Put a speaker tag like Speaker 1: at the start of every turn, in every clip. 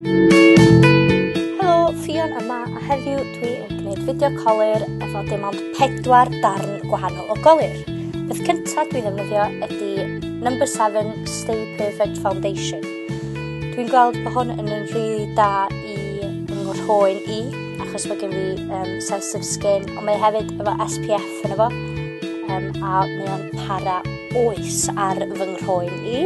Speaker 1: Helo, Ffion yma a heddiw dwi yn gwneud fideo colir efo dim ond pedwar darn gwahanol o golir. Beth cyntaf dwi'n ddefnyddio ydy Number 7 Stay Perfect Foundation. Dwi'n gweld bod hwn yn yn rhywbeth da i ngwrhoen i, achos mae gen fi um, sensitive skin, ond mae hefyd efo SPF yn efo, um, a mae o'n para oes ar fy nghrôen i.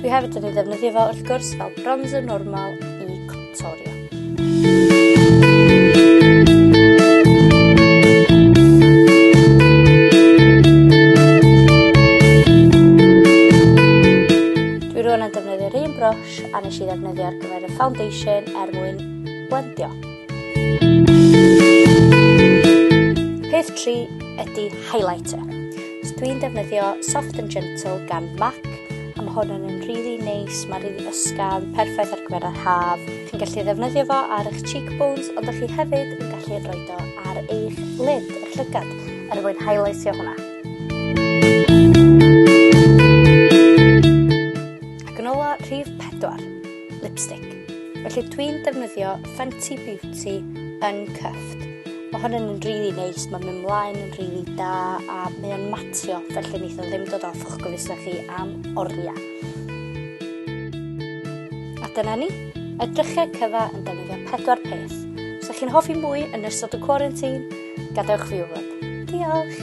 Speaker 1: Dwi hefyd yn ei ddefnyddio fo wrth gwrs fel bronzer normal i contorio. brush a nes i ddefnyddio ar gyfer y foundation er mwyn blendio. Peth 3 ydy highlighter. So dwi'n defnyddio Soft and Gentle gan MAC a mae hwn yn yn really neis, mae'n really ysgafn, perffaith ar gyfer yr haf. Chi'n gallu ddefnyddio fo ar eich cheekbones, ond ydych chi hefyd yn gallu rhoi do ar eich lid, eich llygad, er mwyn highlightio hwnna. Ac yn ola, rhif pedwar. lipstick. Felly dwi'n defnyddio Fenty Beauty Uncuffed. Mae hwn yn rili really neis, mae'n mynd mlaen yn rili really da a mae o'n matio, felly wnaeth o ddim dod off o'ch gofusna chi am oriau. A dyna ni, edrychau cyfa yn defnyddio pedwar peth. Os ydych chi'n hoffi mwy yn ystod y quarantine, gadewch fi wybod. Diolch!